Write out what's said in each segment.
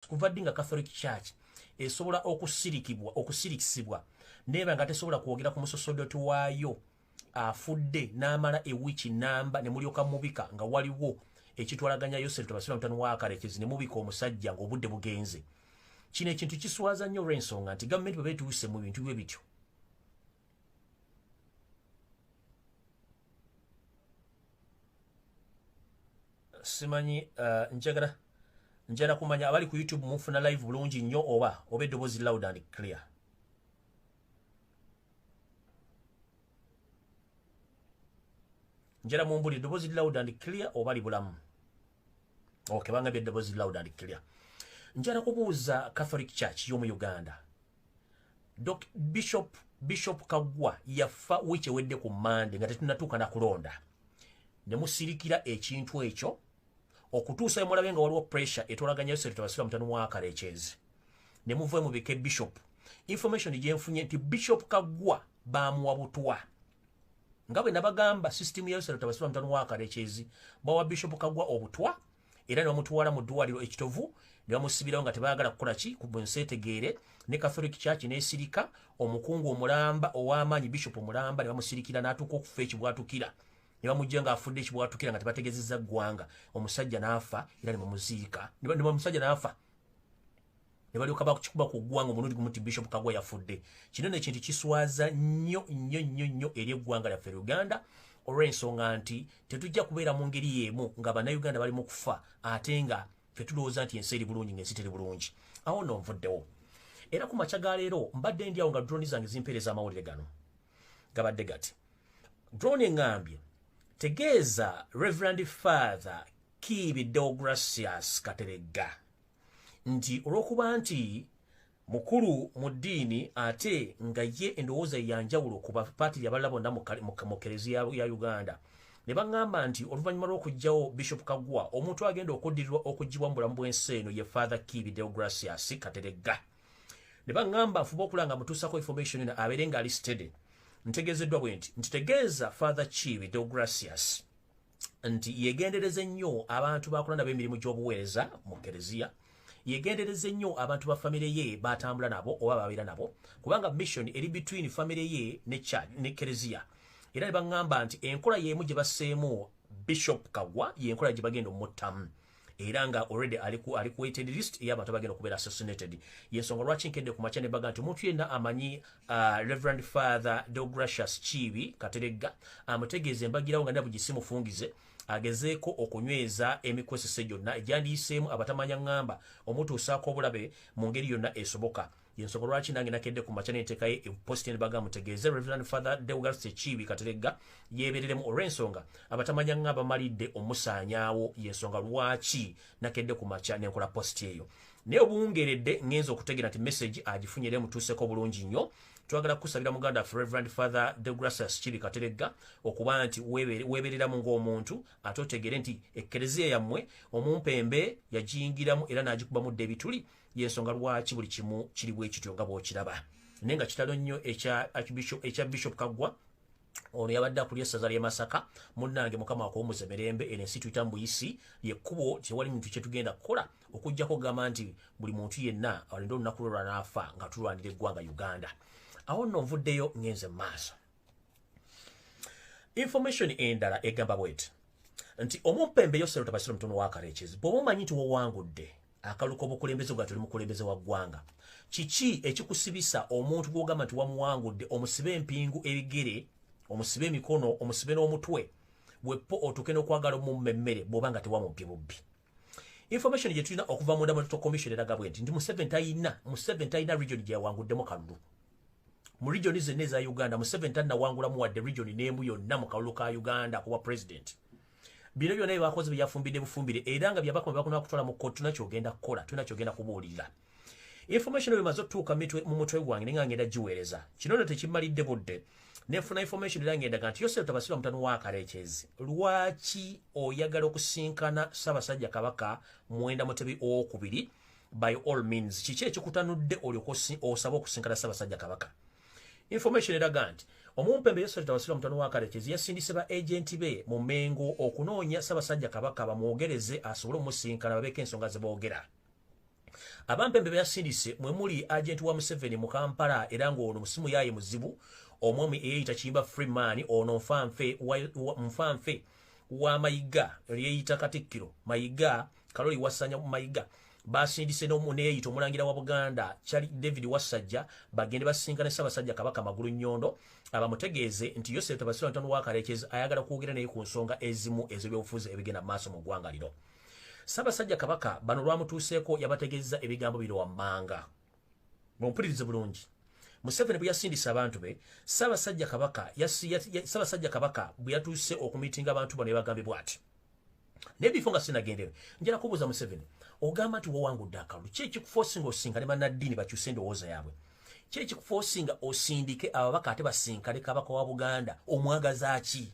kuva ddi nga catholic church esobola okusirikibwa okusirikisibwa neba nga tesobola kwogera ku musosodoti waayo afudde n'amala ewiiki namba ne mulyoka mubika nga waliwo ekitwalaganya yosefu tebasira mutano wakarekezi ne mubika omusajja ng'obudde bugenze kino ekintu kiswaza nnyo olw'ensonga nti gavumenti bwe beetuuse mu bintu bwe bityo simanyi uh, njagala njala kumanya abali ku youtube mufuna live bulungi nnyo oba oba eddoboozi loud and clear njala mumbuli eddoboozi loud and clear oba libulamu ok bangabye eddoboozi loud and clear njala kubuuza catholic church y'omu uganda Dok Bishop Bishop Kagwa yafa wiche wedde ku Monday nga tetunatuka na kulonda ne musirikira ekintu ekyo okutuusa emulabe nga waliwo pressure etolaganya yose tutabasira mutano mwaka lechezi ne muvuwe mu bike Bishop information je mfunye nti Bishop Kagwa ba muwa butwa ngabe nabagamba system yose tutabasira mutano mwaka lechezi bawa Bishop Kagwa obutwa era ne bamutwala mu ddwaliro ekitovu ne bamusibirawo nga tebaagala kukola ki ku bwenseetegeere ne catholic church n'esirika omukungu omulamba ow'amaanyi bishop omulamba ne bamusirikira n'atuuka okufa ekibwatukira ne bamujja ng'afudde ekibwatukira nga tebategezezza ggwanga omusajja n'afa era ne bamuziika ne bamusajja n'afa ne balyoka bakikuba ku ggwanga omulundi gumu nti bishop kagwa yafudde kino no ekintu kiswaza nnyo nnyo nnyo nnyo eri eggwanga lyaffe uganda olw'ensonga nti tetujja kubeera mu ngeri y'emu nga bannayuganda bali mu kufa ate nga fe tulowooza nti ensi eri bulungi ng'ensi teri bulungi awo no nvuddewo era ku makya ga leero mbadde ndi awo nga droni zange zimpeereza amawulire gano gabadde gati droni eŋŋambye tegeeza reverend father kiibi deogratias kateregga nti olw'okuba nti mukulu mu ddiini ate nga ye endowooza yanjawulo ku bapaati yabalala bonna mu kereziya ya uganda ne baŋŋamba nti oluvannyuma lw'okugyawo bishop kagwa omuntu agenda okuddirirwa okugibwa mu bulamu bw'ensi eno ye father kibi deogracias kateregga ne baŋŋamba nfuba okula nga mutuusako information eno abeere ng'ali stede ntegeezeddwa bwe nti ntitegeeza father kibi deogracias nti yegendereze nnyo abantu bakola nabo emirimu gy'obuweereza mu kereziya yegendereze nnyo abantu ba famire ye batambula nabo oba babeera nabo kubanga mission eri between famire ye ne kereziya era ne baŋŋamba nti enkola y'emu gye baseemu bishop kagwa y'enkola gye bagenda omuttamu era nga already ali ku ali ku waited list ya bantu bagenda kubera assassinated yesonga lwaki nkende ku machane baga nti omuntu yenna amanyi uh, reverend father Deogratius Chibi Katerega amutegeeze mbagirawo nga nabu gisimu fungize agezeeko okunyweza emikwesese gyonna egyandiyiseemu abatamanya ngamba omutuusaako obulabe mu ngeri yonna esoboka yensonga lwaki nange nakedde ku makya nentekayo eposti nebaga mutegeeze reverend father deugas ekiibi kateregga yebereremu olw'ensonga abatamanya nga abamalidde omusaanyaawo yensonga lwaki nakedde ku makya nenkola posti eyo naye obuwungeredde ngenza okutegera nti message agifunye era emutuuseko bulungi nnyo twagala kukusabira muganda ffe reverend father degracius kibi kateregga okuba nti weebereramu ng'omuntu ate otegere nti ekkereziya yammwe omumpembe yagiyingiramu era n'agikubamu dda ebituli yensonga lwaki buli kimu kiri bwekityo nga bwokiraba naye nga kitalo nnyo ekya bishop kaggwa ono yabadde akulira essaza ly'e masaka munnange mukama akuwumuze mirembe eno ensi tuyita mu buyisi lyekkubo tewali muntu kye tugenda kukola okuggyako okugamba nti buli muntu yenna alinde olunaku lwe lwanaafa nga tulwanira eggwanga uganda awo nno nvuddeyo ngenze mu maaso information endala egamba bweti nti omumpembe yosero tabasiro mutono wa kareches bwoba omanyi nti wowangudde akaluka obukulembeze bwa tuli mukulembeze wa ggwanga kiki ekikusibisa omuntu gwogamba nti wamuwangudde omusibe empingu ebigere omusibe emikono omusibe n'omutwe wepo otuke n'okwagala omummemmere bwoba nga tewamumpye bubbi information gyetulina okuva munda mu electoral commission eraga bwenti nti museven talina museven talina region gyeyawanguddemu kalulu mu region zenna eza uganda museven talinawangulamu wadde region n'emu yonna mu kalulu ka uganda kuba president bino byonna byebakozi byeyafumbidde bufumbire era nga byabakoma bebakona kutwala mu kkooti tunakyogenda kukola tunakyogenda kubuulirira information emaze otuuka mu mutwe gwange nenga ngenda giweereza kino no tekimalidde budde nefuna information era ngenda kanti yosefu tabasira mutano wakarekyezi lwaki oyagala okusinkana sabasajja kabaka mwenda mutebi owokubiri by all means kiki ekikutanudde olyoka osaba okusinkana sabasajja kabaka information eraga nti omumpembe yosefu tabasira mutano wakarekyezi yasindise ba agenti be mu mengo okunoonya sabasajja kabaka bamwogereze asobole omusinkana babeeko ensonga zeboogera abampembe beyasindise mwe muli agenti wa museveni mu kampala era ng'ono musimu yaaye muzibu omwami eyeyita kiyimba freeman ono nfanfe nfanfe wa mayiga lyeyita katikkiro mayiga kaloli wasanya mayiga basindise n'omuneyeyita omulangira wa buganda kyali david wassajja bagende basinka ne ssabasajja kabaka magulu nnyondo abamutegeeze nti yosefu tabasira ntano wakarekyeza ayagala kwogera naye ku nsonga ezimu ez'ebyobufuzi ebigenda mu maaso mu ggwanga lino Ssabasajja Kabaka bano lwamutuuseeko yabategeezza ebigambo bino wammanga. Mumpulirize bulungi. Museveni bwe yasindisa abantu be, Ssabasajja Kabaka Ssabasajja Kabaka bwe yatuuse okumitinga abantu bano yabagambye bw'ati. Naye bifo nga sinagendeyo, njala kubuuza Museveni, ogamba nti wawangudde akalulu, ki ekikufoosinga osinga ne bannaddiini bakyuse endowooza yaabwe? Ki ekikufoosinga osindike ababaka ate basinkane Kabaka wa Buganda, omwagaza ki?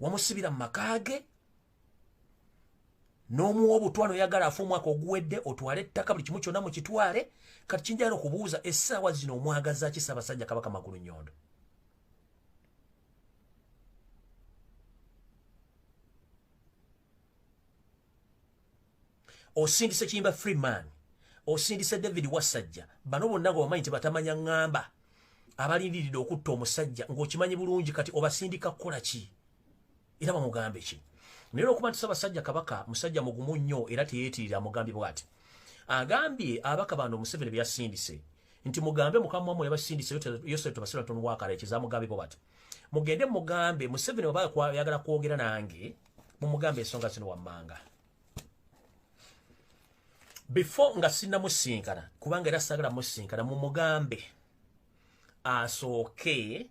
wamusibira mu maka ge n'omuwa obutwa noyagala afe omwaka oguwedde otwale ettaka buli kimu kyonna mukitwale kati kinjagala okubuuza essaawa zino omwagaza ki ssaabasajja kabaka magulu nyondo osindise kiyimba free man osindise david wasajja bano bonna nga wamanyi tebatamanya ŋŋamba abalindiridde okutta omusajja ng'okimanyi bulungi kati obasindika kukola ki era bamugambe ki naye olwokuba nti sabasajja kabaka musajja mugumu nnyo era teyeetirira amugambye bwati agambye abaka bano omuseveni bye yasindise nti mugambe mukama wamwe yabasindise yosere tubasira ntonu wakala ekizamugambe bo bati mugende mugambe museveni waba yagala kwogera nange mumugambe ensonga zino wammanga before nga sinamusinkana kubanga era sagala musinkana mumugambe asooke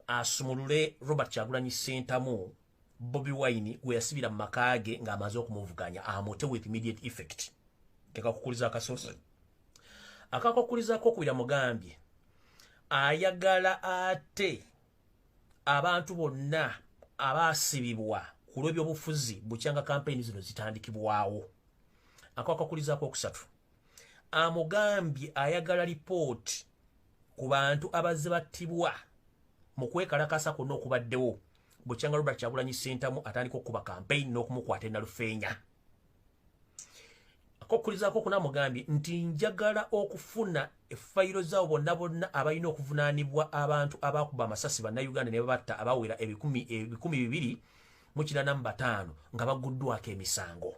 asumulule robert kyagulanyi sentamu bobi wine gweyasibira mu maka ge ng'amaze okumuvuganya amute with immediate effect tekakukuliza akasosi akakukulizako okubira mugambye ayagala ate abantu bonna abaasibibwa ku lw'ebyobufuzi bukyanga kampeyini zino zitandikibwawo akwakakulizaako okusatu amugambye ayagala lipooti ku bantu abazze battibwa mu kwekalakasa kwonna okubaddewo bukyanga robert kyagulanyi sentamu atandika okukuba kampeyini n'okumukwata enalufeenya akokulizaako okuna mugambye nti njagala okufuna efayiro zaabo bonna bonna abalina okuvunaanibwa abantu abakuba amasasi bannayuganda ne babatta abawera ebikumi bibiri mu kirana mu bataano nga baguddwako emisango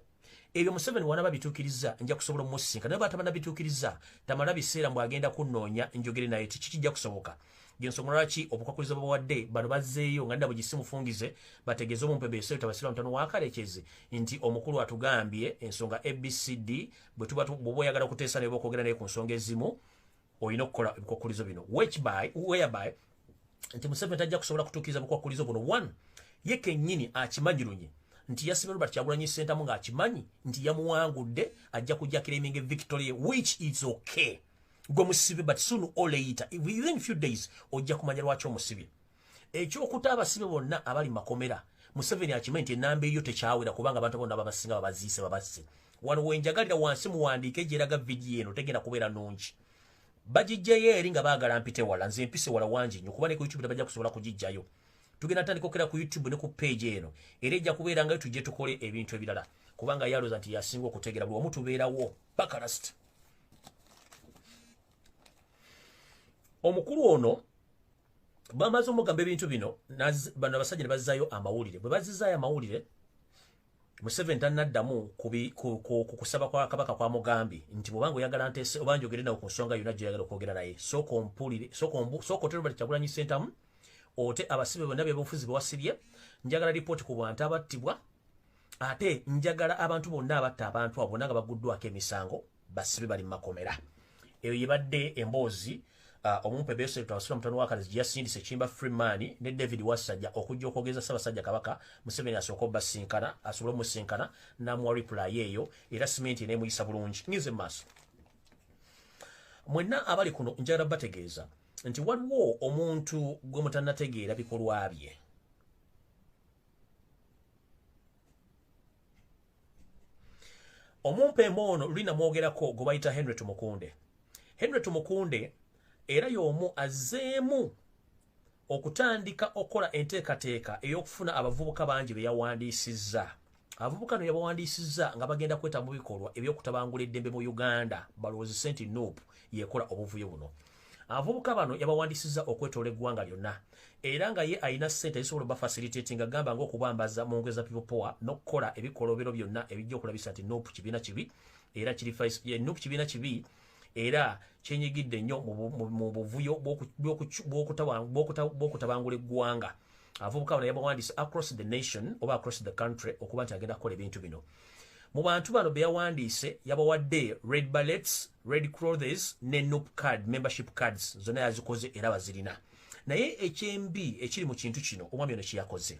ebyo museveni wanaba bituukiriza nja kusobola omusinka naye batabana bituukiriza tamala biseera mbw agenda kunnoonya njogere naye tikikijja kusoboka gyensonga lwaki obukwakkulizo bwebawadde bano bazzeeyo nga nabwe gisi mufungize bategeeze omumpebeeseyo tabasiramu tano wakarekyezi nti omukulu atugambye ensonga abcd bwetuba bwoba oyagala okuteesa naye bokwogera naye ku nsonga ezimu olina okukola ebikwakkulizo bino whereby nti museveni tajja kusobola kutuukiriza bukwakkulizo buno one ye kennyini akimanyirunye nti yasibye robert kyagulanyi ssentamu ng'akimanyi nti yamuwangudde ajja kujakira eminga victoria which is okay gwe musibe but soon or later within few days ojja kumanya lwaki omusibye ekyokuta abasibe bonna abali makomera museveni akimanyi nti enamba eyo tekyawera kubanga abantu bonna babasinga babaziise babasse wano wenjagalira wansi muwandiike gyeraga vidiyo eno tegenda kubeera nungi bagijjayo eri nga baagala mpite wala nze mpise wala wangi nyo kuba ne ku youtube tebajja kusobola kugijjayo tugenda tandika okera ku youtube ne ku page eno era ejja kubeera ngayo tujje tukole ebintu ebirala kubanga yaloza nti yasinga okutegera buli omu tubeerawo bakalast omukulu ono bamaze omugamba ebintu bino bano abasajja ne bazzayo amawulire bwe bazizaayo amawulire museveni tanaddamu ku kusaba kwa kabaka kwa mugambi nti bwobanga oyagala ntese oba njogere nawe ku nsonga yonna gyoyagala okwogera naye sooka ompulire sooka otere bali kyagulanyi sentamu ote abasibe bonna byebufuzi bwewasibye njagala lipooti ku bantu abattibwa ate njagala abantu bonna abatta abantu abo bonna nga baguddwako emisango basibe bali mumakomera eyo yebadde emboozi uh, omumpe besetwasula mutano wakalizi gyeyasindisa ekimba freeman ne david wasajja okujja okwogeza ssabasajja kabaka museveni asooka obasinkana asobole omusinkana namuwa reply eyo era simenti enemuyisa bulungi ngize maaso mwenna abali kuno njagala bategeeza nti waliwo omuntu gwe mutanategeera bikolwa bye omumpeema ono luli namwogerako gwe bayita henry tumukunde henry tumukunde era y'omu azzeemu okutandika okukola enteekateeka ey'okufuna abavubuka bangi be yawandiisizza abavubuka no yabawandiisizza nga bagenda kweta mu bikolwa eby'okutabangula eddembe mu uganda balowoozese nti nup yekola obuvuyo buno abavubuka bano yabawandisiza okwetoola eggwanga lyonna era nga ye alina ssente ezisobola obafacilitate nga gamba ngaokubambaza mu ngeri za pipopoa n'okukola ebikolobero byonna ebijja okulabisa nti nup kibiina kibi era nup kibiina kibi era kyenyigidde nnyo mu buvuyo bw'okutabangula eggwanga abavubuka bano yabawandisa across the nation oba across the country okuba nti agenda kukola ebintu bino mu bantu bano be yawandiise yabawadde red ballets red crothes ne nup card membership cards zonna yazikoze era bazirina naye ekyembi ekiri mu kintu kino omwami ono kyeyakoze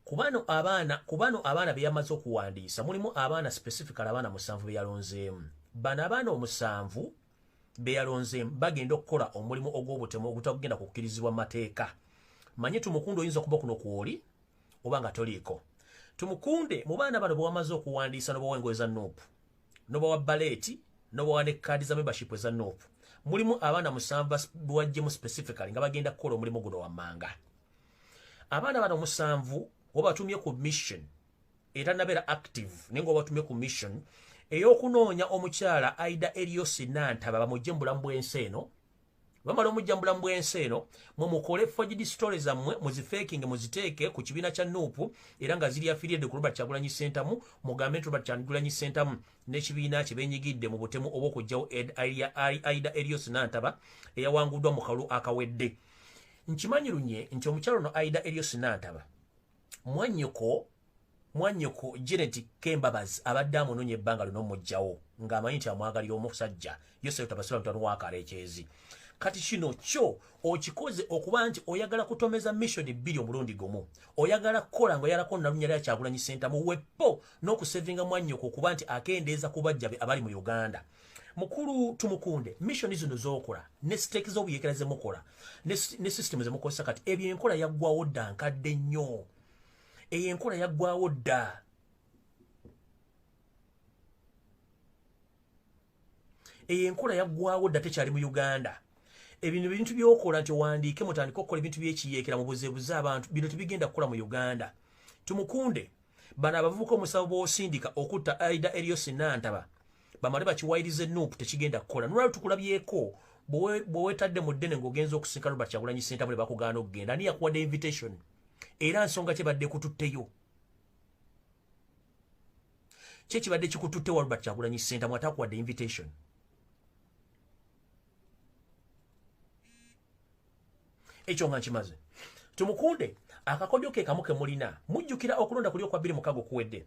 kubano abaana kubano abaana beyamaze okuwandiisa mulimu abaana specifical abaana musanvu beyalonzeemu bano abaana omusanvu beyalonzeemu bagenda okukola omulimu ogw'obutemu ogutagenda kukkirizibwa mateeka manye tumukundu oyinza okuba kuno kwoli oba nga toliiko tumukunde mu baana bano bwewamaze okuwandiisa nobawa engoye za nuupu nobawa baleeti nobawa ne kaadi za membership eza nuupu mulimu abaana musanvu bwajjemu specifically nga bagenda kukola omulimu guno wammanga abaana bano musanvu wabatumye ku mission era nabeera active naye nga wabatumye ku mission eyokunoonya omukyala aida eliosi nantaba bamujje mu bulamu bwensi eno bamala omujja mubulamu bwensi eno mwe mukole fojidi story zammwe muzifekinge muziteeke ku kibiina kya nuupu era nga ziri afiriyedde ku robert kyagulanyi sentamu mugambe nti robert kyagulanyi sentamu n'ekibiina kye benyigidde mu butemu obw'okugyawo aida erios nantaba eyawanguddwa mu kalulu akawedde nkimanyi lunye nti omukyalo no aida erios nantaba mwanyoko mwanyoko Janet Kembabazi abadde amunonye ebbanga lino mujjawo ng'amanyi nti amwagalira omusajja Yosefu Tabasula mutano wa Kalekyezi kati kino kyo okikoze okuba nti oyagala kutomeza mission bbiri omulundi gumu oyagala kukola nga oyalako nalunya lya kyagulanyi sentamu wepo n'okusevinga mwanyoko okuba nti akendeeza kubajjabe abali mu Uganda mukulu tumukunde mission zino zokola ne stake zo buyekera ze mukola ne, ne system ze mukola sakati ebyo enkola yagwawo dda nkadde nnyo eyo enkola yagwawo dda eyo enkola yagwawo dda tekyali mu uganda ebintu bintu byokola nti owandiike mutandika okukola ebintu byekiyekera mubuzebuze abantu bino tebigenda kukola mu uganda tumukunde bano abavubuka omusawo bwosindika okutta aida eriyo sinantaba bamale bakiwayirize nup tekigenda kukola nolwali tukulabyeko bwewetadde mu ddene ngaogenza okusinka robert kyagulanyi sentabule bakugaana okugenda ani yakuwadde invitation era nsonga kyebadde kututteyo kyekibadde kikututte wa robert kyagulanyi sentamwe atakuwadde invitation ekyo nga nkimaze tumukunde akakodyo ke kamu ke mulina mujjukira okulonda kuli okwa bbiri mukago kuwedde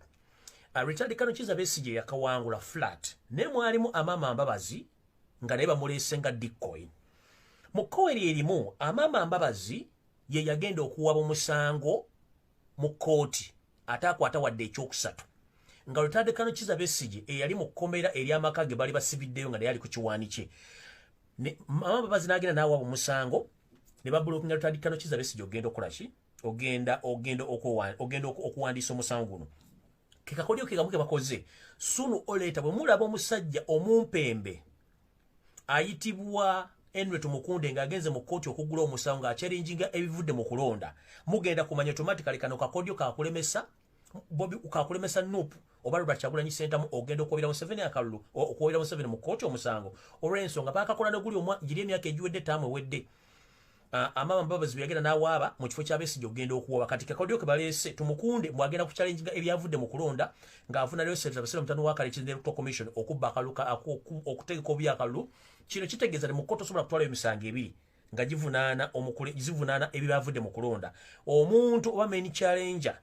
uh, richard kano kiza besigye yakawangula flat naye mwalimu amaama mbabazi nga naye bamuleese nga dikkoyi mu kkowa eri erimu amaama mbabazi ye yagenda okuwaba omusango mu kkooti ate akwata wadde ekyokusatu nga lutandikano kiza besigye eyali mu kkomera ery'amaka ge baali basibiddeyo nga naye ali ku kiwaani kye mama babazi nagenda naawa omusango ne babulokinga lutadi kano kiza besigi ogenda okukola ki ogenda ogenda ogenda okuwandiisa omusango guno kekakolyo kekamu kebakoze sunu oleeta bwe mulaba omusajja omumpembe ayitibwa enret mukunde ng'agenze mu kkooti okugula omusango ng'akyerinjinga ebivudde mu kulonda mugenda kumanya otomatikali kano kakodyo kakulemesa bobi ukakulemesa nup oba lwa kyagulanyi sentamu ogenda okwobera museveni akalulu okwobera museveni mu kooti omusango olw'ensonga bakakola noguli omwa giri emyaka egiwedde taamu ewedde amama mbabazi bweyagenda n'awaaba mu kifo ky'abesigye okugenda okuwaba kati kakodyo ke baleese tumukunde mwagenda ku challenge nga ebyavudde mu kulonda ng'avuna leoservice abasira omutano wa kale kizinde electoral commission okubba akaluka okutegeka obuyakalulu kino kitegeeza ne mu kkooti osobola kutwalayo emisango ebiri nga givunaana omukule zivunaana ebibaavudde mu kulonda omuntu oba main challenger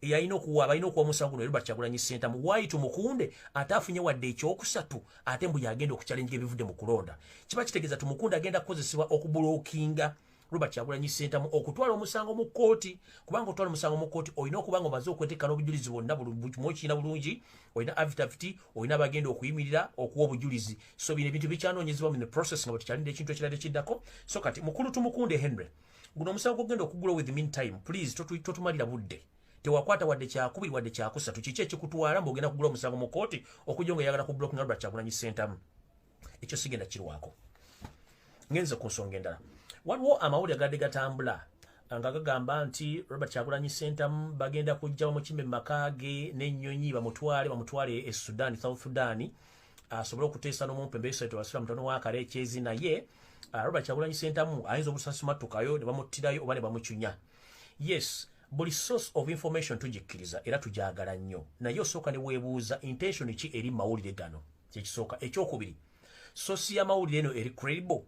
eyalina okuwa balina okuwa omusango guno erobert kyagulanyi sentamu waayi tumukunde ate afunye wadde ekyokusatu ate mbu yagenda okukyalenjira ebivudde mu kulonda kiba kitegeeza tumukunde agenda kukozesebwa okubulookinga robert kyagulanyi sentamu okutwala omusango mu kkooti kubanga otwala omusango mu kkooti olina okuba nga omaze okweteekana obujulizi bwonna buli kimu okirina bulungi olina avitaviti olina bagenda okuyimirira okuwa obujulizi so bino ebintu bikyanonyezebwa mu the process nga bwetukyalinda ekintu ekirala ekiddako so kati mukulu tumukunde henry guno omusango gwogenda okugula with mean time please totumalira budde tewakwata wadde kyakubiri wadde kyakusatu kiki ekikutwala mbu ogenda kugula omusango mu kooti okujja nga eyagala ku blocking albert kyagulanyi sentamu ekyo sigenda kirwako ngenze ku nsonga endala waliwo amawulire gadde gatambula nga gagamba nti robert kyagulanyi sentamu bagenda kujja bamukimbe mumaka ge n'ennyonyi bamutwale bamutwale e sudan south sudan asobole okuteesa n'omumpe mbeesoeto basula mutono wakala ekyezi naye ah, robert kyagulanyi sentamu ayinza obusasimatukayo ne bamuttirayo oba ne bamucunya yes buli source of information tugikkiriza era tugyagala nnyo naye osooka ne weebuuza intention ki eri mawulire gano kyekisooka ekyokubiri sosi yamawulire eno eri credible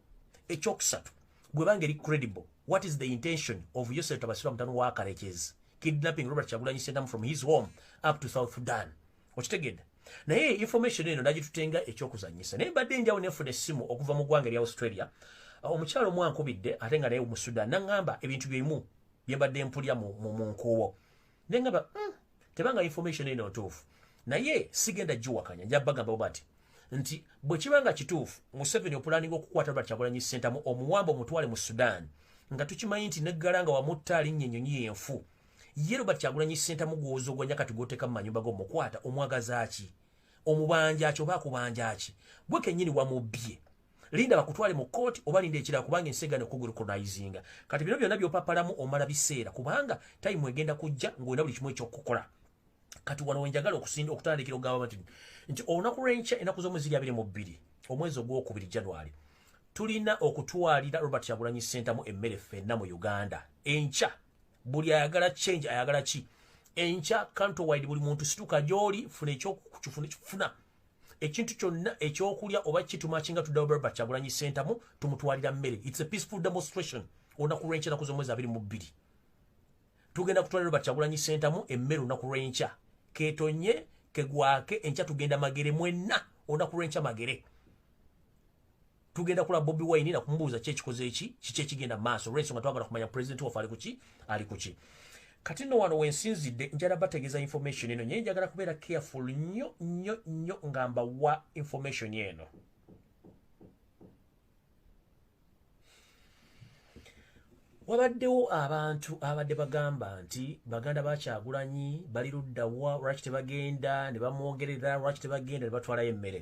ekyokusatu bwebanga eri credible what is the intention of yosef tabasirwa mutano wa karekyezi kidnapping robert kyagulanyi sentamu from his home up to south sudan okitegedde naye information eno nagitutenga ekyokuzanyisa naye mbadde enjawo nefuna essimu okuva mu ggwanga erya australia ah, omukyalo omu ankubidde ate nga naye mu sudan naŋŋamba ebintu byeimu byembadde mpulya mu nkuubo ne ngamba hmm, tebanga information eno ntuufu naye sigenda giwakanya nja bagamba bo bati nti bwe kiba nga kituufu museveni opulaninga okukwata lwa kyagulanyi sentamu omuwamba omutwale mu sudan nga tukimanyi nti neggala nga wamutta alinnya ennyonyi yenfu ye robert kyagulanyi sentamu gwowoza ogwanya kati gwoteeka mu manyumba gomukwata omwagazaaki omubanja ki oba akubanja ki gwe kennyini wamubbye linda bakutwale mu kooti oba linda ekirala kubanga ensi egana okugurukunizinga kati bino byonna byopapalamu omala biseera kubanga tayimu egenda kujja ngaolina buli kimu ekyokukola kati wano wenjagala okusinda okutandikira okugamba nti nti olunaku lwenkya enaku zomu ziri abiri mu bbiri omwezi ogwokubiri january tulina okutwalira robert yagulanyi sentamu emmere ffenna mu uganda enkya buli ayagala change ayagala ki enkya kanto wide buli muntu situka gyoli funa ekyokufuna ekintu kyonna ekyokulya oba kituma kinga tudaobert kyagulanyi sentamu tumutwalira mmere its a peaceful demonstration olunaku lwenkya naku zomwezi abiri mu bbiri tugenda kutwalira obert kyagulanyi sentamu emmere olunaku lwenkya ketonye kegwake enkya tugenda magere mwenna olunaku lwenkya magere tugenda kula Bobby Wine na kumubuza kye kikoze eki kiche kigenda maso race nga twagala kumanya president wa fali kuchi ali kuchi kati no wano wensinzide njara bategeza information eno nyenja gara kubera careful nyo nyo nyo ngamba wa information yeno wabaddewo abantu abadde bagamba nti baganda bakyagulanyi bali luddawa lwaki tebagenda ne bamwogerera lwaki tebagenda ne batwalayo emmere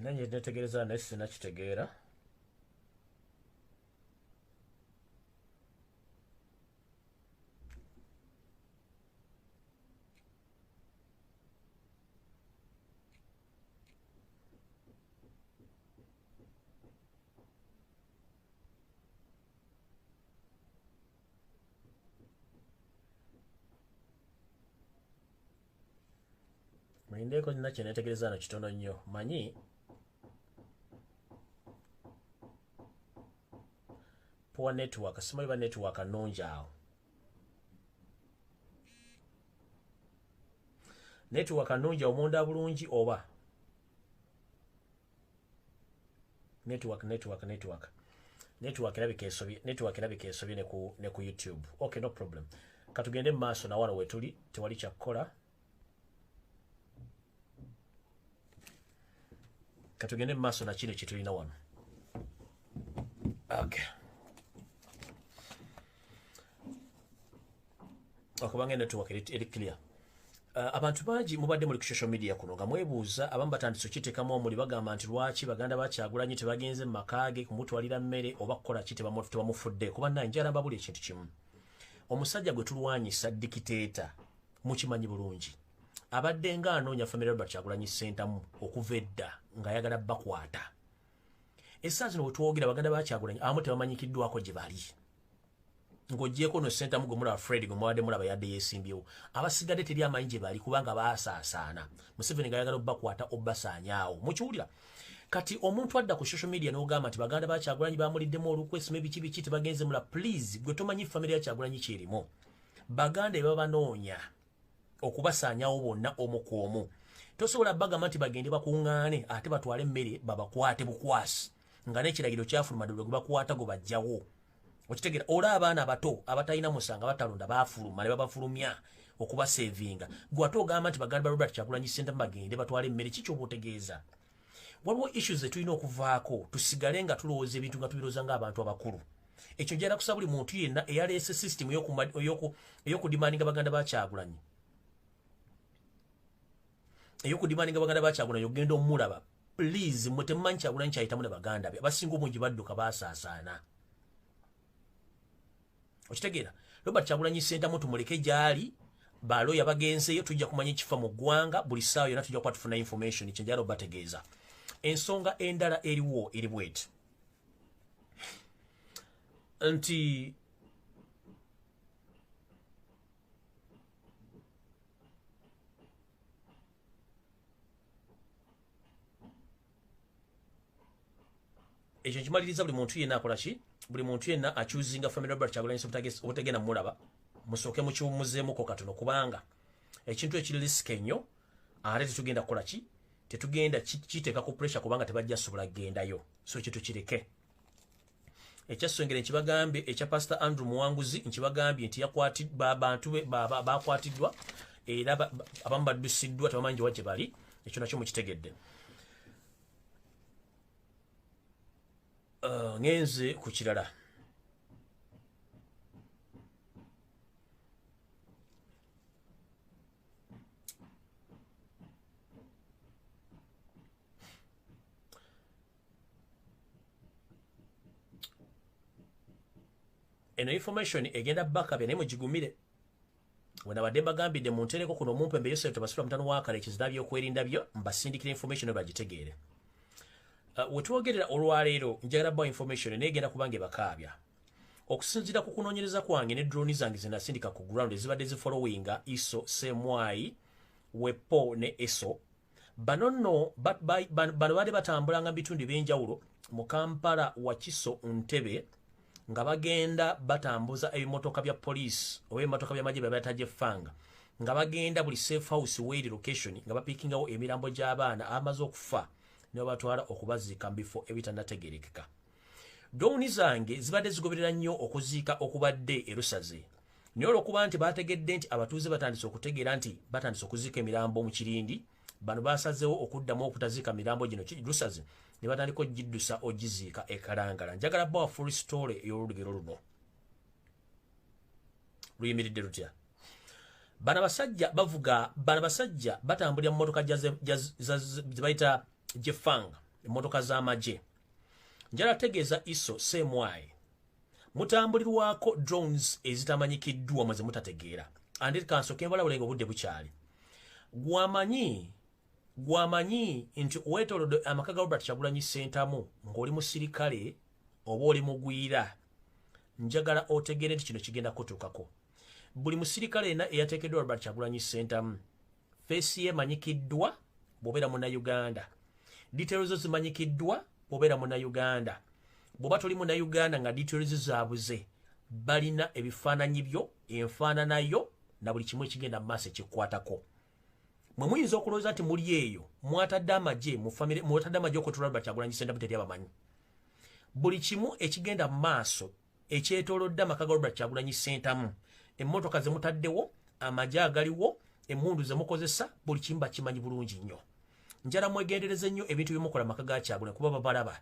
nina nyenetegereza naye sina kitegeera muyindeeko nina kyenetegereza no kitono nnyo manyi poor network simanyi ba network nungi awo network nungi omunda bulungi oba network network network network erabika esobye network erabika esobye ne ku ne ku youtube okay no problem katugende maaso na wano wetuli tewali kya kola katugende maaso na kile kituli na wano okay akubanga eno tuwaka eri clear Uh, abantu bangi mubadde muli ku social media kuno nga mwebuuza abamu batandise okiteekamu omuli bagamba nti lwaki baganda bakyagulanyi tebagenze mu maka ge kumutwalira mmere oba kukola ki tebamufudde kuba naye njala mbabuli ekintu kimu omusajja gwe tulwanyisa dikiteeta mukimanyi bulungi abadde nga anoonya famire robert kyagulanyi ssentamu okuva edda ng'ayagala bakwata esaa zino wetwogera baganda bakyagulanyi abamu tebamanyikiddwako gye bali ng'ogyeko no sentamu gwe mulaba fred gwe mubadde mulaba yadde yesimbyewo abasigadde teri amanyi gye bali kubanga baasaasaana museveni ngayagala obakwata obasaanyaawo mukiwulira kati omuntu adda ku social media n'ogamba nti baganda ba kyagulanyi bamuliddemu olukwe sima ebiki biki tebagenze mula please gwe tomanyi famire ya kyagulanyi kyerimu baganda ebabanoonya okubasaanyawo bonna omu ku omu tosobola bagamba nti bagende bakuŋŋaane ate batwale emmere babakwate bukwasi nga n'ekiragiro kyafuluma dde lwe gwebakwata gwe bajjawo okitegera ola abaana abato abatalina musanga batalonda bafuluma ne babafulumya okubasevinga gwe ate ogamba nti baganda ba robert kyakulanyi sente bagende batwale emmere ki kyoba otegeeza waliwo issues zetulina okuvaako tusigale nga tulowooza ebintu nga tubiroza ngaabantu abakulu ekyo njala kusa buli muntu yenna eyaleese system eyokudimaninga baganda bakyagulanyi eyokudimaninga baganda bakyagulanyi okugenda omulaba please mwe temumanyi kyagulanyi kyayitamu ne baganda be abasinga obungi badduka basaasaana okitegeera robert kyagulanyi sentamu tumuleke gyali baloya bagenzeyo tujja kumanya ekifa mu ggwanga buli saawa yona tujja kuba tufuna information kyenjala obategeeza ensonga endala eriwo eri bweti nti ekyo kimaliriza buli muntu yenna akola ki buli muntu yenna acuzinga family robert kyagulanyiso obutagenda mulaba musooke mukiwumuzeemuko katono kubanga ekintu ekiri lisike nnyo ate tetugenda kukola ki tetugenda kiteeka ku pressure kubanga tebajja sobola kugendayo so ekyo tukireke ekyassengere nkibagambye ekya pastor andrew muwanguzi nkibagambye nti yakwatbantu bakwatiddwa era abamu baddusiddwa tebamanyi gyewa gye bali ekyo nakyo mukitegedde uh, ngenze ku kirala eno information egenda bakabe naye mugigumire wenabadde mbagambidde muntereko kuno omumpembe yosef tebasula mutano wakale kizira byokwerinda byo mbasindikira information bagitegeere uh, wetwogerera olwaleero njagala bawa information naye egenda kubanga ebakaabya okusinzira ku kunoonyereza kwange ne droni zange zenasindika ku ground ezibadde zifolowinga iso semwayi wepo ne eso bano nno bano baali batambulanga mu bitundu ebyenjawulo mu kampala wakiso ntebe nga bagenda batambuza ebimotoka bya poliisi oba ebimotoka byamagye byabatajefanga nga bagenda buli safe house weri location nga bapikingawo emirambo gy'abaana amaze okufa nebabatwala okubaziika mu bifo ebitanategerekeka gawuni zange zibadde zigoberera nnyo okuziika okubadde erusaze naye olwokuba nti baategedde nti abatuuze batandise okutegeera nti batandise okuziika emirambo mu kirindi bano basazewo okuddamu okutaziika mirambo gino kirusaze ne batandika ogiddusa ogiziika ekalangala njagala bawa full story ey'olulugero luno luyimiridde lutya bana basajja bavuga bana basajja batambulira mu motoka zebayita jefang emotoka z'amagye njala tegeeza iso same way mutambulirwako drones ezitamanyikiddwa mwe zemutategeera andit kanso kembalabulenga obudde bukyali gwamanyi gwamanyi nti wetolodde amaka ga robert kyagulanyi sentamu ng'oli musirikale oba oli mugwira njagala otegeere nti kino kigenda kutuukako buli musirikale ena eyateekeddwa robert kyagulanyi sentamu feesi ye manyikiddwa bwobeera muna uganda details zo zimanyikiddwa bwobeera muna uganda bwoba toli muna uganda nga details zabuze balina ebifaananyi byo enfaanana yo na buli kimu ekigenda mu maaso ekikwatako mwe muyinza okulowooza nti muli eyo mwatadde amagye mu famire mwatadde amagye okutula albert agulanyi sentamu teri abamanyi buli kimu ekigenda mu maaso ekyetolodde amaka ga Robert Kyagulanyi Ssentamu emmotoka ze mutaddewo amagye agaliwo emmundu ze mukozesa buli kimu bakimanyi bulungi nnyo njala mwegendereze nnyo ebintu bye mukola amaka ga Kyagulanyi kuba babalaba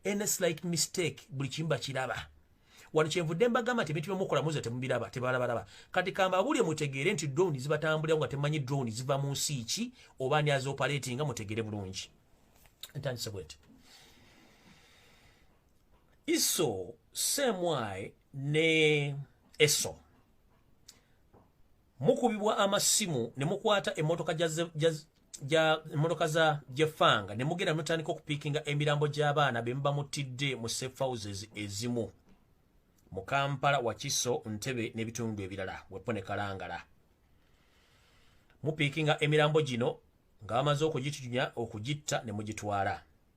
any slight mistake buli kimu bakiraba wano kyenvudde mbagamba nti ebintu bye mukola muze temubiraba tebalabalaba kati kambabulye mutegeere nti drone zibatambulirawo nga temanyi drone ziva mu nsi ki oba ani azioperatinga mutegeere bulungi ntandise bweti iso semwae ne eso mukubibwa amasimu ne mukwata emmotoka ja emmotoka za jefanga ne mugenda mutandika okupiikinga emirambo gy'abaana be muba mutidde mu safe houses ezimu mu kampala wakiso ntebe n'ebitundu ebirala wepo ne kalangala mupiikinga emirambo gino nga bamaze okugityunya okugitta ne mugitwala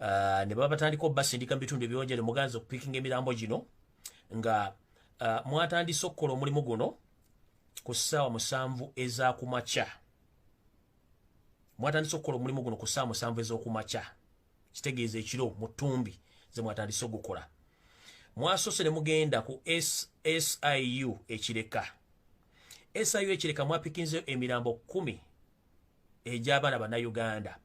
uh, ne baba batandika obasindika mu bitundu ebyonjere muganzi okupikinga emirambo gino nga uh, mwatandise okukola omulimu guno ku ssaawa musanvu ezakumakya mwatandise okukola omulimu guno ku ssaawa musanvu ez'okumakya kitegeeza ekiro mu ttumbi ze mwatandise ogukola mwasoose ne mugenda ku siu ekireka siu ekireka mwapikinzeyo emirambo kumi egy'abaana bannayuganda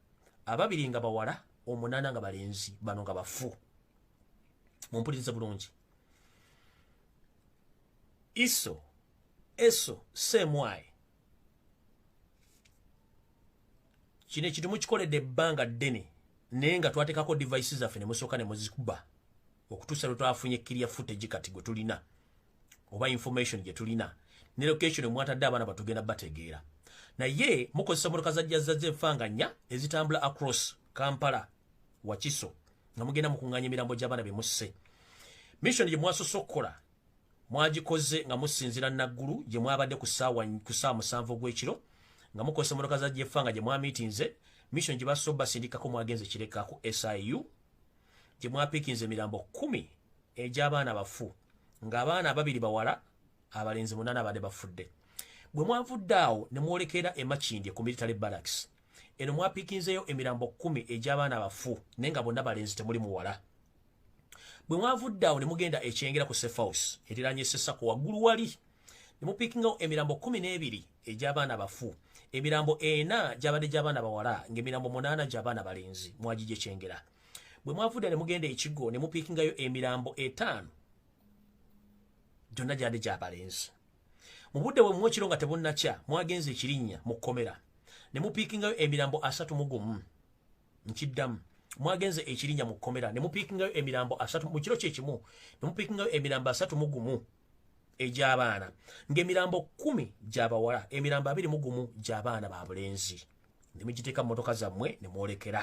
ababiri nga bawala omunaana nga balenzi bano nga bafu mumpulirize bulungi iso eso semwayi kino ekintu mukikoledde ebbanga ddene naye nga twateekako device zaffe ne musooka ne muzikuba okutuusa lwe twafunye kiriya footage kati gwe tulina oba information gye tulina ne location omwatadde abaana batugenda bategeera naye mukozesa motoka zajjazazza enfanganya ezitambula across kampala wakiso nga mugenda mukunganya emirambo gy'abaana be musse mission gye mwasoose okukola mwagikoze nga musinzira naggulu gye mwabadde ku saawa musanvu ogw'ekiro nga mukozesa motoka za jefa nga gye mwamiitinze mission gye basoba sindikako mwagenze kirekaku siu gye mwapiikinze emirambo kumi egy'abaana bafu ng'abaana ababiri bawala abalenzi munana abadde bafudde bwe mwavudde awo ne mwolekera emakindye ku military barracks eno mwapikinzeyo emirambo kumi egy'abaana abafu naye nga bonna balenzi temuli muwala bwe mwavudde awo ne mugenda ekyengera ku sefaus eriranye sesako waggulu wali ne mupikingawo emirambo kumi n'ebiri egy'abaana abafu emirambo ena gyabadde gy'abaana bawala ng'emirambo munaana gy'abaana balenzi mwagigyekyengera bwe mwavudde ne mugenda ekigo ne mupiikingayo emirambo etaano gyonna gyandi gya balenzi mu budde bwe mumu ekiro nga tebunnakya mwagenze ekirinnya mu kkomera ne mupiikingayo emirambo asatu mu gumu nkiddamu mwagenze ekirinnya mu kkomera ne mupiikingayo emirambo asatu mu kiro kye kimu ne mupiikingayo emirambo asatu mu gumu egy'abaana ng'emirambo kkumi gya bawala emirambo abiri mu gumu gy'abaana ba bulenzi ne mugiteeka mu motoka zammwe ne mwolekera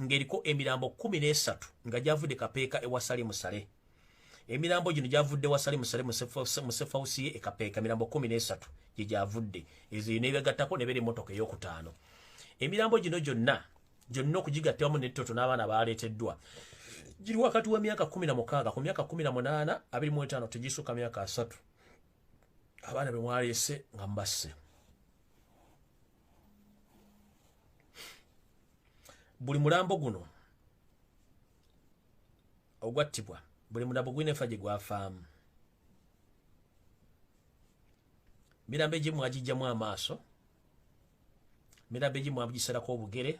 ng'eriko emirambo kkumi n'esatu nga gyavudde kapeeka ewa salimu sale emirambo gino gyavudde wa salimu sale musefausi ye ekapeeka emirambo kkumi n'esatu gye gyavudde ezo nebagattako nebeera emmotoka ey'okutaano emirambo gino gyonna gyonna okugigatta wamu nettoto n'abaana baaleeteddwa giri wakati wa myaka kumi na mukaaga ku myaka kumi na munaana abiri mu etaano tegisuka myaka asatu abaana be mwaleese nga mubasse buli mulambo guno ogwattibwa buli mulambo gulina efa gye gwafaamu mirambo egimu agijjamu amaaso mirambo egimu agisalako obugere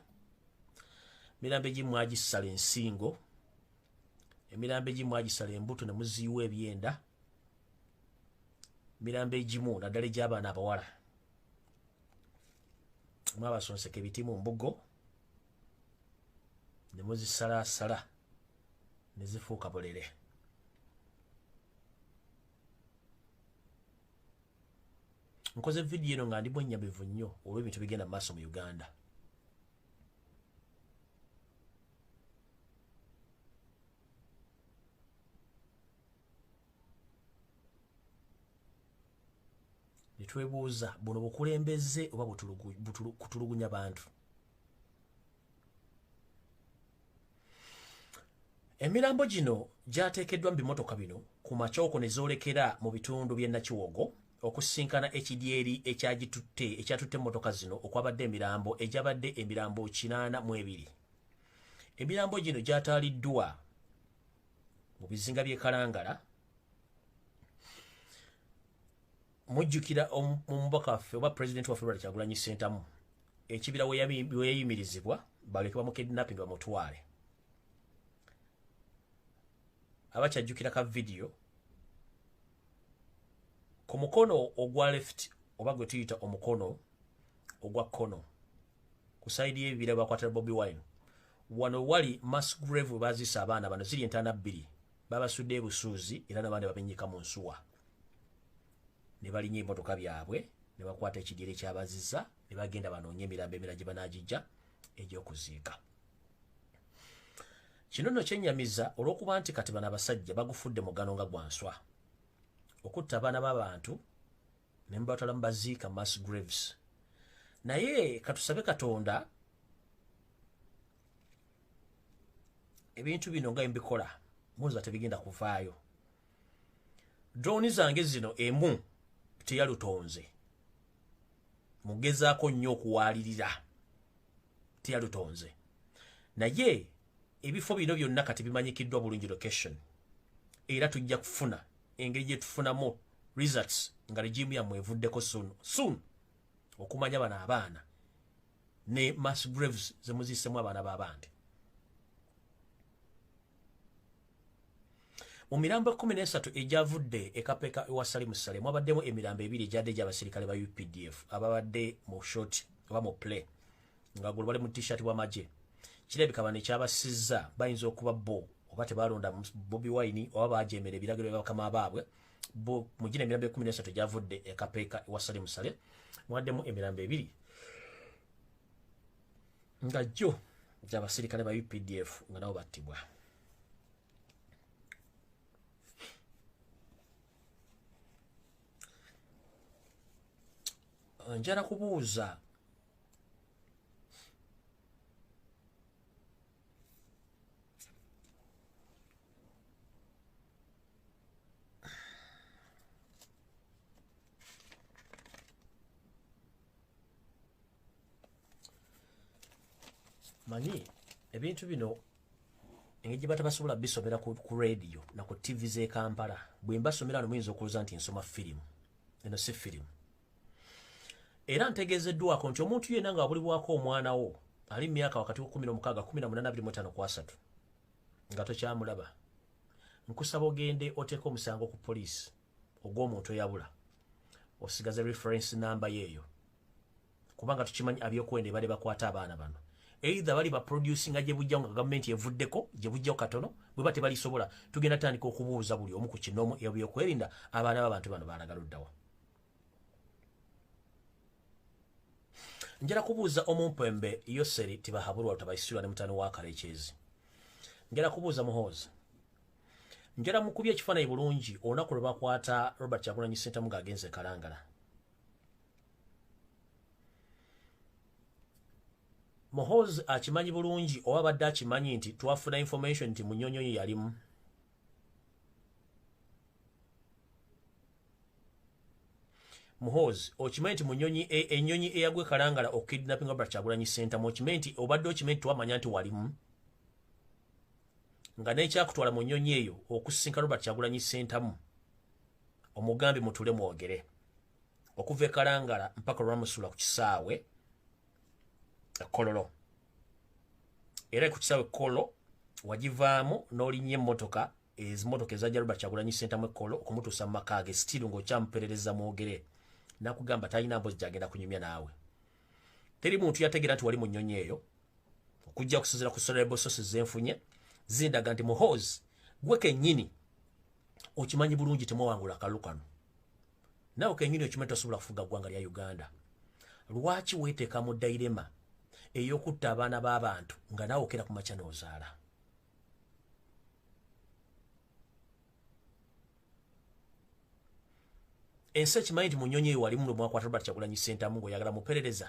mirambo egimu agisala ensingo emirambo egimu agisala embuto ne muziyiwa ebyenda mirambo egimu naddala egy'abaana abawala mwabasonseka ebiti mu mbugo ne muzisalaasala ne zifuuka bulere nkoze vidiyo eno nga ndi mwennyamivu nnyo olw'ebintu bigenda mu maaso mu uganda netwebuuza buno bukulembeze oba kutulugunya bantu emirambo gino gyateekeddwa mu bimotoka bino ku macooko ne zoolekera mu bitundu by'e nakiwogo okusinkana ekidyeri ekyagitutte ekyatutte emmotoka zino okwabadde emirambo egyabadde emirambo kinaana mu ebiri emirambo gino gyataaliddwa mu bizinga by'e kalangala mujjukira omubaka waffe oba pulezidenti waffe lwali kyagulanyi sentamu ekibira weyayimirizibwa baleke bamukidnapping bamutwale abakyajjukira ka vidiyo ku mukono ogwa left oba gwe tuyita omukono ogwa kkono ku saidi y'ebibira bakwatira bobi wine wano wali mass grave bazisa abaana bano ziri entaana bbiri babasudde ebusuuzi era nabandi babenyika mu nsuwa ne balinya emotoka byabwe ne bakwata ekidyeri ekyabaziza ne bagenda banoonye emirambo emira gye banagijja egyokuziika kino nno kyenyamiza olw'okuba nti kati bano abasajja bagufudde mugano nga gwa nswa okutta abaana b'abantu ne mubatwala mu baziika mass graves naye katusabe katonda ebintu bino nga mbikola muza tebigenda kuvaayo droni zange zino emu teyalutonze mugezaako nnyo okuwaalirira teyalutonze naye ebifo bino byonna kati bimanyikiddwa bulungi location era tujja kufuna engeri gye tufunamu results nga regimu yammwe evuddeko soon soon okumanya bano abaana ne mass graves zemuzisemu abaana babandi mu mirambo ekkumi n'esatu egyavudde ekapeka ewa salimu sale mwabaddemu emirambo ebiri egyadde egy'abasirikale ba updf ababadde mu short oba mu play nga gulu bali mu t-shirt bwamagye kirabika bano ekyabasizza bayinza okuba bo oba tebalonda bobi wine oba bajemera ebiragiro byabakama baabwe bo mujina emirambo ekumi nesatu gyavudde ekapeeka ewa sale musale mwaddemu emirambo ebiri nga jjo gyabasirikale ba updf nga nabo battibwa njala kubuuza manyi ebintu bino engeri gyebata basobola bisomera ku radio na ku tv ze kampala bwemba somera no muyinza okuloza nti nsoma firimu eno si firimu era ntegeezeddwako nti omuntu yenna nga abulibwako omwana wo ali mu myaka wakati wa 16 kwasatu nga tokyamulaba nkusaba ogende oteeka omusango ku poliisi ogw'omuntu eyabula osigaze reference namba yeeyo kubanga tukimanyi abyokwenda ebale bakwata abaana bano either bali baproducinga gye bujja nga gavumenti evuddeko gye bujja katono bwe ba tebalisobola tugenda tandika okubuuza buli omu ku kinoomu ebyokwerinda abaana b'abantu bano baalagaluddawa njala kubuuza omumpembe yoseri tibahabulwa lutabaisirwa ne mutani wakala ekyezi njala kubuuza muhoozi njala mukubya ekifaanayi bulungi olunaku lwe bakwata robert kyagulanyi sentamu ng'agenze kalangala muhoozi akimanyi bulungi oba abadde akimanyi nti twafuna information nti munyonyonyi yalimu muhoozi okimanyi nti munyonyi e, enyonyi eyagwe kalangala okukidnapping obra kyagulanyi sentamu okimanyi nti obadde okimanyi tiwamanya nti walimu nga nekyakutwala mu nyonyi eyo okusinka robert kyagulanyi sentamu omugambi mutule mwogere okuva ekalangala mpaka olwamusula ku kisaawe ekololo era ku kisaawe kolo wagivaamu n'olinya emmotoka ezimotoka ezajja Robert Kyagulanyi Ssentamu ekkolo okumutuusa mu maka ge sitiiru ng'okyamuperereza mwogere nakugamba talina mpozi gyagenda kunyumya naawe teri muntu yategeera nti wali mu nnyonyi eyo okujja kusinzira ku solarable sources zenfunye zindaga nti muhoozi gwe kennyini okimanyi bulungi temwawangula akalulu kano naawe kennyini okimanyi tosobola kufuga ggwanga lya uganda lwaki weeteeka mu dairema ey'okutta abaana b'abantu nga naawe okera ku makya n'ozaala ensi ekimanyi nti mu nyonyi eyo walimu lwemwakwata robert kyagulanyi sentamu ngaoyagala muperereza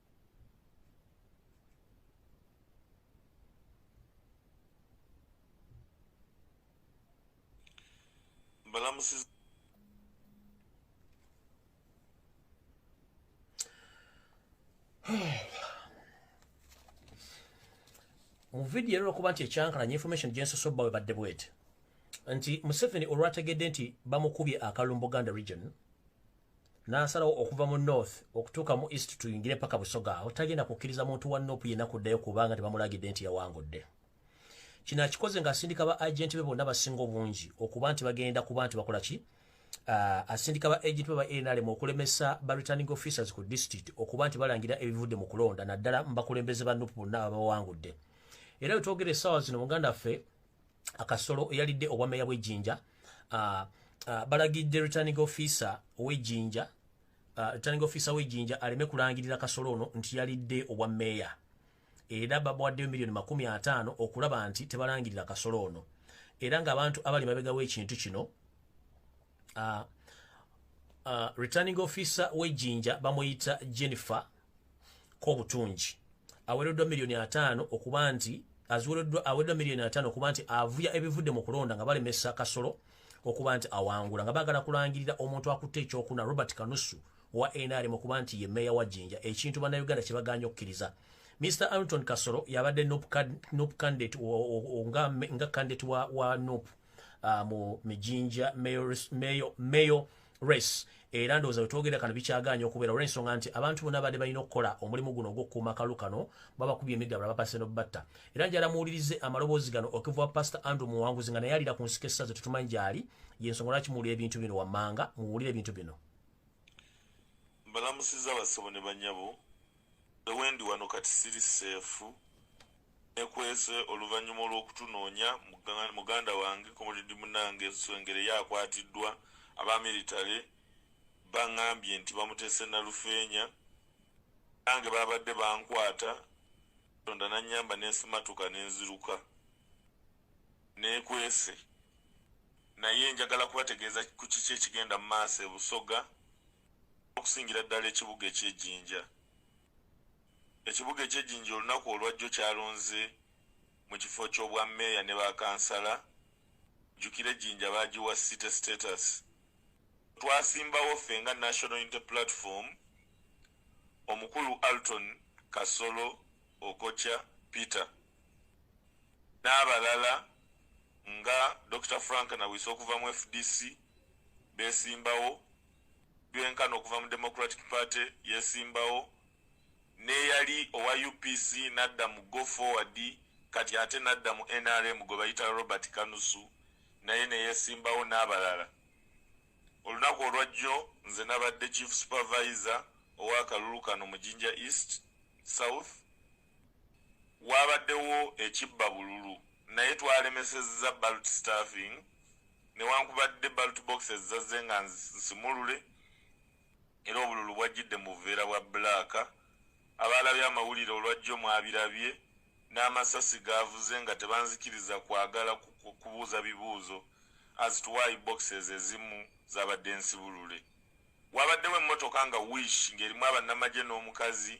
balamusiza mu vidiyo era olwokuba nti ekyankalanya information gyensosobba we badde bwete nti museveni olwategedde nti bamukubye akalumbu ganda region n'asalawo okuva mu north okutuuka mu east tuyingire paka busoga awo tagenda kukkiriza muntu wa nopu yenna kuddayo kubanga tebamulagidde nti yawangudde kino akikoze ng'asindika ba agenti be bonna basinga obungi okuba nti bagenda kuba nti bakola ki ah, asindika ba agenti be ba nrm okulemesa ba returning officers ku district okuba nti balangira ebivudde mu kulonda naddala mu bakulembeze ba nupu bonna ababawangudde era wetwogera essaawa zino muganda ffe akasolo eyalidde obwameeya bw'ejjinja uh, uh, balagidde returning officer ow'ejjinja uh, returning officer w'ejjinja aleme kulangirira kasolo ono nti yalidde obwameeya era babawaddeyo miliyoni makumi ataano okulaba nti tebalangirira kasolo ono era ng'abantu abali mabega w'ekintu kino uh, uh, returning officer wejinja bamuyita jennifer kobutungi awereddwa miliyoni ataano okuba nti aziwereddwa awereddwa miliyoni ataano okuba nti avuya ebivudde mu kulonda nga balemesa kasolo okuba nti awangula nga bagala kulangirira omuntu akutte ekyokuna robert kanusu wa nrm okuba nti ye meeya wa jinja ekintu bannayuganda kye baganya okukkiriza mr anton kasolo yabadde nup candidate nga candidate wa, wa nup uh, mu mijinja mayo race era ndowooza wetwogera kano bikyagaanya okubeera olwensonga nti abantu bona badde balina okukola omulimu guno ogwokukuuma kalu kano babakuba emigabula bapase nobatta era njala muwulirize amaloboozi gano okiva pastor andrew muwanguzi nga naye alira ku nsika essaze tetumanyi gyali yensonga lwaki muwulira ebintu bino wammanga muwulire ebintu bino mbalamusiza bassebo ne banyabo nze wendi wano kati siri seefu nekwese oluvannyuma olw'okutunoonya muganda wange komulidi munange nswengere yakwatiddwa aba military baŋambye nti bamutese nalufeenya nange babadde bankwata tonda nanyamba nensimatuka nenziruka nekwese naye njagala kubategeeza ku kiki ekigenda mu maaso ebusoga okusingira ddala ekibuga eky'ejjinja. Ekibuga eky'ejjinja olunaku olwajjo kyalonze mu kifo ky'obwa meeya ne ba kansala, jjukira ejjinja baagiwa city status. Twasimbawo ffe nga National Unity Platform, omukulu Alton Kasolo Okocha Peter n'abalala nga Dokita Frank Nawiso okuva mu fdc beesimbawo. gyenkana okuva mu Democratic Party yesimbawo n'eyali owa UPC n'adda mu Go Forward kati ate n'adda mu nrm gwe bayita Robert Kanusu naye neyesimbawo n'abalala. Olunaku olwajjo nze nabadde Chief Supervisor ow'akalulu kano mu Jinja East, South, Waabaddewo ekibba bululu naye twalemesezza ballot staffing newankubadde ballot boxes zazze nga nsimulule era obululu bwajjidde mu buveera bwa bbulaaka. Abaalabye amawulire olwajjo mwabirabye n'amasasi gaavuze nga tebanzikiriza kwagala kubuuza bibuuzo as to why boxes ezimu zaabadde nsibulule. Waabaddewo emmotoka nga Wish ng'erimu abannamagye n'omukazi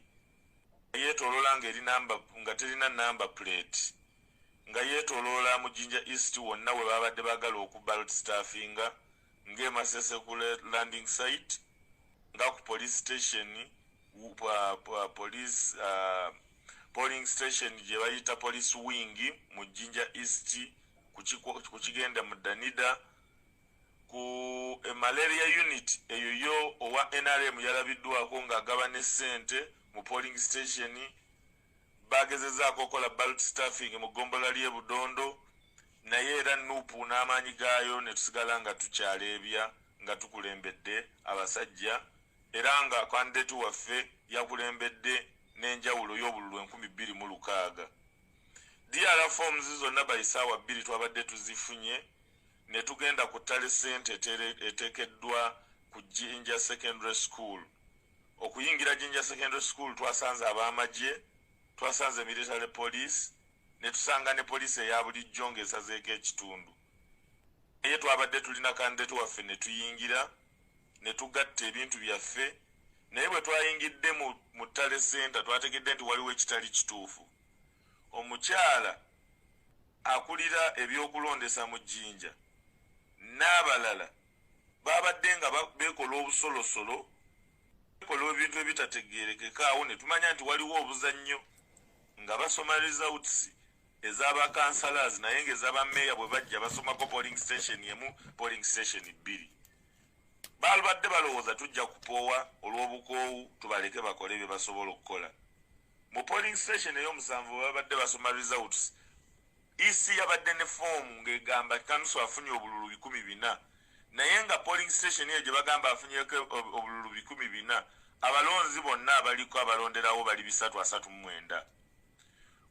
yeetoloola ng'eri namba nga terina namba puleeti nga yeetoloola mu jinja east wonna we baabadde baagala okubalt staffinga ng'emasese ku landing site nga ku police station police uh, polling station gye bayita police wing mu jinja east ku kigenda mu danida ku e malaria unit eyo yo owa nrm yalabiddwako ng'agaba ne ssente mu polling station bagezezaako okukola balt staffing mu ggombola ly'e budondo naye era nuupu n'amaanyi gaayo ne tusigala nga tukyaleebya nga tukulembedde abasajja era nga kandidate waffe yakulembedde n'enjawulo y'obululu enkumi bbiri mu lukaaga dr forms zonna bayisaawa bbiri twabadde tuzifunye ne tugenda ku ttale ssente eteekeddwa ku jinja secondary school okuyingira jinja secondary school twasanze ab'amagye twasanze military police ne tusanga ne poliisi eya bulijjo ng'esazeeko ekitundu naye twabadde tulina kandidate waffe ne tuyingira ne tugatta ebintu byaffe naye bwe twayingidde mu ttale senta twategedde nti waliwo ekitali kituufu omukyala akulira ebyokulondesa mu jinja n'abalala babadde nga bekola obusolosolo bekola ebintu ebitategerekeka awo netumanya nti waliwo obuzannyo nga basoma results ezabakansalaas naye nga ezabameeya bwe bajja basomako polling station emu polling station bbiri balubadde balowooza tujja kupoowa olw'obukoowu tubaleke bakole bye basobola okukola Mu polling station ey'omusanvu bwe babadde basoma results, EC yabadde ne foomu ng'egamba Kanusu afunye obululu bikumi bina naye nga polling station eyo gye bagamba afunyeko obululu bikumi bina abalonzi bonna abaliko abalonderawo bali bisatu asatu mu mwenda.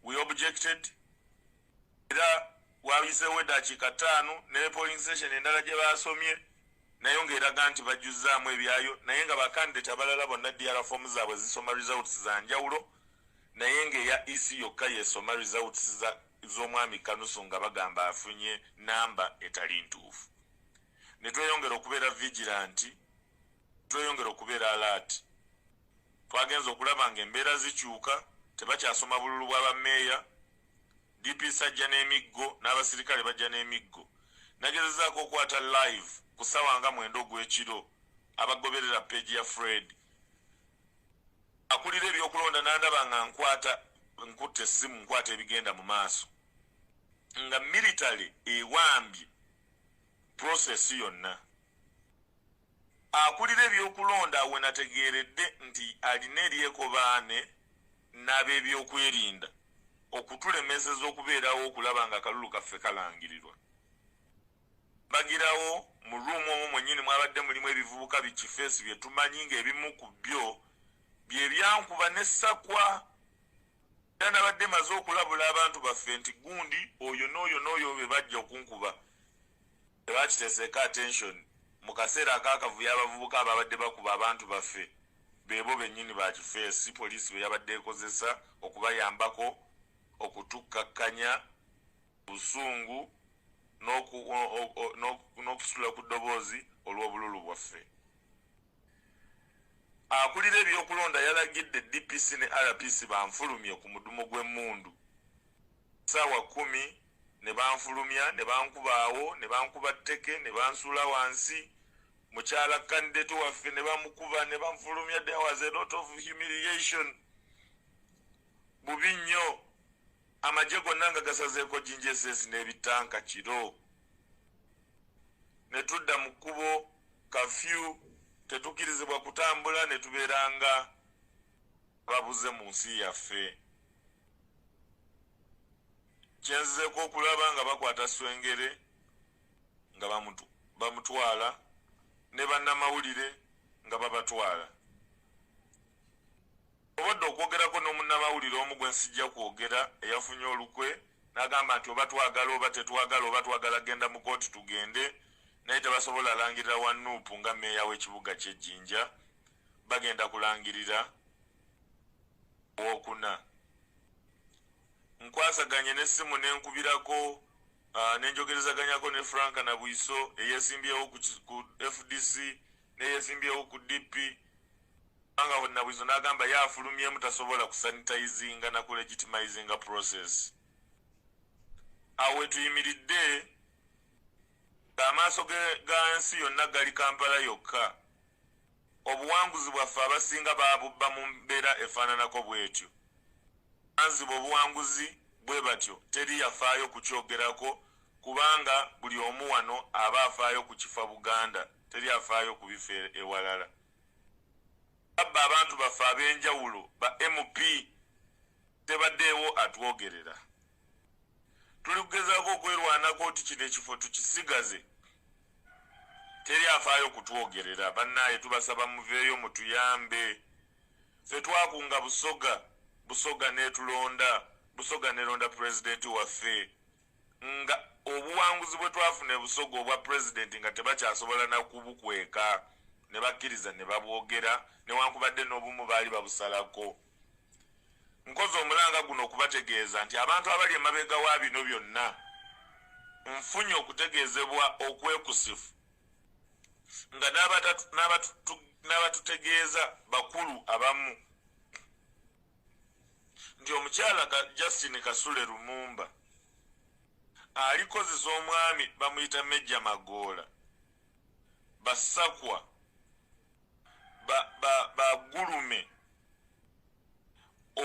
We objected. era wayiseewo eddakiika ttaano ne polling station endala gye baasomye nayo ng'eraga nti bajjuzzaamu ebyayo naye nga bakandidate abalala bonna dr fomu zaabwe zisoma results za njawulo naye ng'eya ec yokka yesoma results z'omwami kanusu nga bagamba afunye namba etali ntuufu ne tweyongera okubeera vigilanti tweyongera okubeera alaati twagenza okulaba nga embeera zikyuka tebakyasoma bululu bwa bameeya DPS ajja n'emiggo n'abasirikale bajja n'emiggo. Nagezezaako okwata live ku ssaawa nga mwenda ogw'ekiro abagoberera peegi ya Fred. Akulira ebyokulonda n'andaba nga nkwata nkutte essimu nkwata ebigenda mu maaso nga military ewambye process yonna. Akulira ebyokulonda wenategeeredde nti alina eryekobaane n'abebyokwerinda okutulemeseza okubeerawo okulaba nga akalulu kaffe kalangirirwa bagirawo mu ruumu omwo mwennyini mwabadde mulimu ebivubuka bikifeesi bye tumanyi ng'ebimu ku byo bye byankuba ne sakwa era nabadde maze okulabula abantu baffe nti gundi oyo n'oyo n'oyo be bajja okunkuba Lwaki teseeka attention mu kaseera ak'akavuyo abavubuka abaabadde bakuba abantu baffe be bo bennyini ba kifeesi si poliisi be yabadde ekozesa okubayambako okutukkakkanya obusungu n'okusitula ku ddoboozi olw'obululu bwaffe. Akulira ebyokulonda yalagidde DPC ne RPC banfulumye ku mudumu gw'emmundu. ssaawa kkumi ne banfulumya ne bankuba awo ne bankuba tteke ne bansuula wansi mukyala kandideeto waffe ne bamukuba ne banfulumya there was a lot of humiliation bubi nnyo amagye gonna nga gasazeeko ginjeses n'ebitanka kiro ne tudda mu kkubo kafyu tetukirizibwa kutambula ne tubeera nga babuze mu nsi yaffe kyenzizeeko okulaba nga bakwata swengere nga bamutwala ne bannamawulire nga babatwala obadde okwogerako n'omunnamawulire omu gwe nsijja kwogera eyafunye olukwe n'agamba nti oba twagala oba tetwagala oba twagala genda mu kooti tugende naye tebasobola alangirira wa nuupu nga meeya w'ekibuga ky'ejjinja bagenda kulangirira wokuna nkwasaganye nesimu nenkubirako ah, nenjogerezaganyako ne frank na bwiso eyesimbyewo ku fdc neyesimbyewo ku dp anga nabwiso nagamba ye afulumyemu tasobola kusanitizinga nakulegitimizinga process awe tuyimiridde amaaso gansi yonna gali kampala yokka Obuwanguzi bwaffe abasinga baabubba mu mbeera efaananako bw'etyo. Abaanzibwa obuwanguzi bwe batyo teri yafaayo kukyogerako kubanga buli omu wano aba afaayo ku kifa Buganda, teri afaayo ku bifa ewalala. Ababba abantu baffe ab'enjawulo ba MP tebaddeewo atwogerera. Tuli kugezaako okwerwanako nti kino ekifo tukisigaze teri afaayo kutwogerera bannaaye tubasaba muveeyo mutuyambe fe twakunga busoga busoga netulonda busoga nelonda pulezidenti waffe nga obuwanguzi bwe twafuna ebusoga obwa pulezidenti nga tebakyasobola nakubukweka ne bakkiriza ne babwogera newankubadde n'obumu baali babusalako nkoze omulanga guno okubategeeza nti abantu abali emabega wa bino byonna nfunye okutegeezebwa okwekusifu nga n'abatutegeeza bakulu abamu nti omukyala justin kasule lumumba alikozesa omwami bamuyita mejja magoola basakwa bagulume ba, ba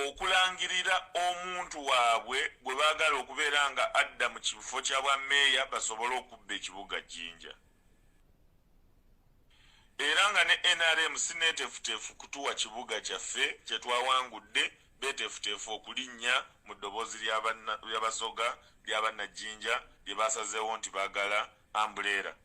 okulangirira omuntu waabwe gwe baagala okubeera nga adda mu kifo kya bwa meeya basobole okubba ekibuga jinja era nga ne nrm sineetefuteefu kutuwa kibuga kyaffe kye twawangudde beetefuteefu okulinnya mu ddoboozi lyabasoga lyabannajinja lye baasazeewo nti baagala ambuleera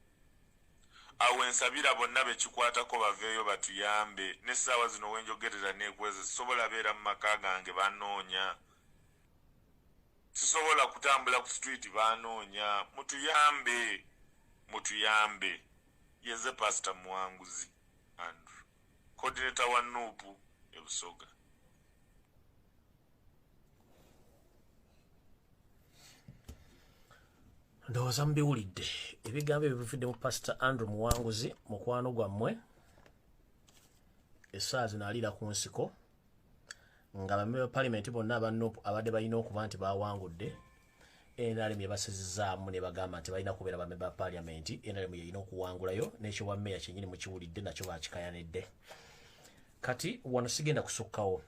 awo wensabira bonna bekikwatako baveeyo batuyambe n'essaawa zino wenjogerera neekweze sisobola beera mu maka gange banoonya sisobola kutambula ku street banoonya mutuyambe mutuyambe yeze pasita muwanguzi andrew coordinator wa nuupu ebusoga ndowooza mubiwulidde ebigambo ebyo bivudde mu pasita andrew muwanguzi mukwano gwammwe essaazi naaliira ku nsiko nga bamebe ba palimenti bonna abanop abadde balina okuba nti bawangudde nrm yebasizizaamu nebagamba nti balina kubeera bame ba paliamenti nrm yeyina okuwangulayo nekyobwa meya kyenyini mukiwulidde nakyo bakikayanidde kati wano sigenda kusukkawo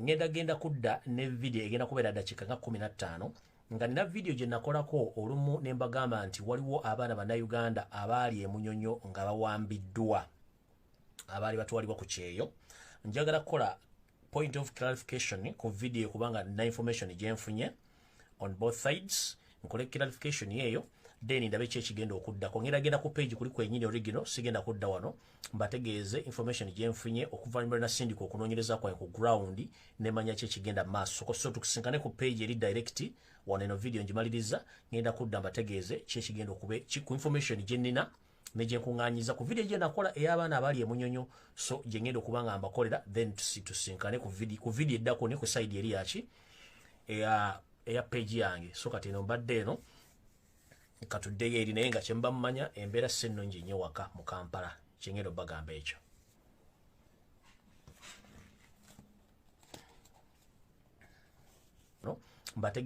ngenda genda kudda ne vidiyo egenda kubeera dakiika nga 15 nga nina vidiyo gye nakolako olumu ne mbagamba nti waliwo abaana bannayuganda abaali emunyonyo nga bawambiddwa abaali batwalibwa ku kyeyo njagala kukola point of clarification ku video kubanga na information gyenfunye on both sides nkole clarification yeeyo then ndabe ki ekigenda okuddako ngenda genda ku page kuli kwenyini original sigenda kudda wano mbategeeze information gyenfunye okuvannyuma na sindika okunoonyereza kwange ku ground nemanya ki ekigenda maaso so tukusinkane ku page eri direct wano eno video ngimaliriza ngenda kudda mbategeeze ki ekigenda okube ku information gyenina ne gye nkuŋŋaanyiza ku vidiyo gye nakola ey'abaana abali emunyonyo so gye ŋŋenda okuba nga mbakolera then tusinkane ku vidiyo eddako ne ku sayidi eri yaki eya peegi yange so kati eno mbadde eno katuddeyo eri naye nga kyemuba mumanya embeera si ennungi nnyo waka mu kampala kye ŋŋenda obagamba ekyo mbatege